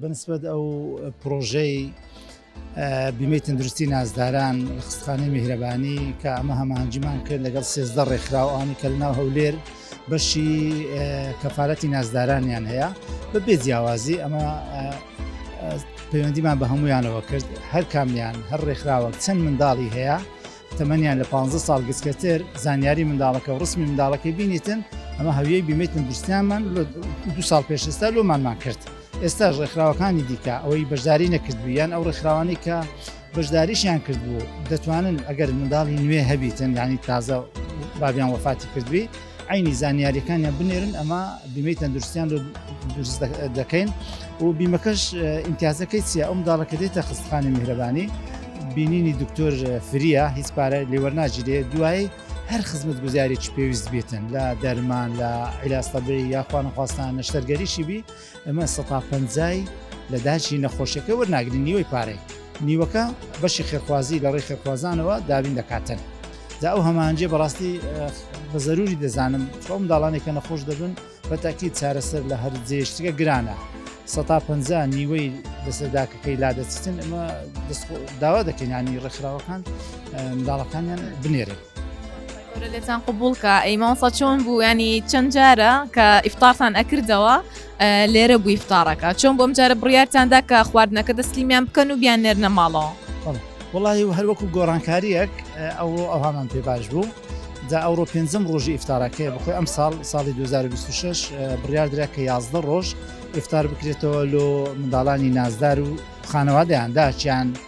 بەنسبەت ئەو پرۆژەی بیمەی تەندروستی نازداران لە خستخانەی میهرەبانی کە ئەمە هەمانجیمان کرد لەگەڵ سێزدە ڕێکخراوانی کە لەناو هەولێر بەشی کەفاەتی نازدارانیان هەیە بە بێ جیاوازی ئەمە پەیوەندیمان بە هەمویانەوە کرد هەر کامیان هەر ڕێکخراوە چەند منداڵی هەیە تەمەنیان لە پانزە ساڵ گچکەتر زانیاری منداڵەکە و ڕسمی منداڵەکەی بینیتن ئەمە هەویەی بیمەی تەندروستیانمان دو ساڵ پێشستا لۆمانمان کرد ئێستا ڕێکخراوەکانی دیکە ئەوەی بەشداری نەکردویان ئەو ڕێکخراوانی کە بەشداریشیان کردبوو دەتوانن ئەگەر منداڵی نوێ هەبیتن یانی تازە بابیان وەفاتی کردوی عینی زانیاریەکانیان بنێرن ئەمە بیمەی تەندروستیان دروست دەکەین و بیمەکەش ئیمتیازەکەی چیە ئەم داڵەکە دێتە خستخانی میهرەبانی بینینی دکتۆر فریە هیچ پارە لێوەرناجیرێ دوایی هەر خزمەت گوزارێکی پێویست بێتن لە دەرمان لە عیلاستەبێ یاخوانخواستان نەشتەرگەریشی بی ئەمە سەتا پەنجای لە داچی نەخۆشەکە وەرناگرین نیوەی پارەی نیوەکە بەشی خێخوازی لە ڕێی خێخوازانەوە دابین دەکاتن دا ئەو هەمانجێ بەڕاستی بە زەروری دەزانم چۆم داڵانێکە نەخۆش دەبن بە تاکی چارەسەر لە هەر جێشتگە گرانە سەتا پ نیوەی دەسەرداکەکەی لا دەچن ئەمە داوا دەکەینانی ڕێکخراوەکان منداڵەکانیان بنێرن گەورە لێتان قوبوڵکە ئەی مامۆستا چۆن بوو ینی چەند جارە کە ئیفتارتان ئەکردەوە لێرە بووی فتارەکە چۆن بۆم جارە بڕیارتاندا کە خواردنەکە دەستلیمیان بکەن و بیان نێرنە ماڵەوە وڵی و هەروەکو گۆڕانکاریەک ئەو ئەوهامان پێ باش بوو دا ئەوڕۆ پێنجم ڕۆژی ئفتارەکەی بخۆی ئەم ساڵ ساڵی 2026 بڕیار درا کە 11 ڕۆژ ئفتار بکرێتەوە لۆ منداڵانی نازدار و خانەوادەیان داچیان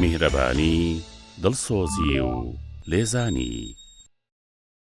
میهرەبانی، دڵسۆزی و لێزانی.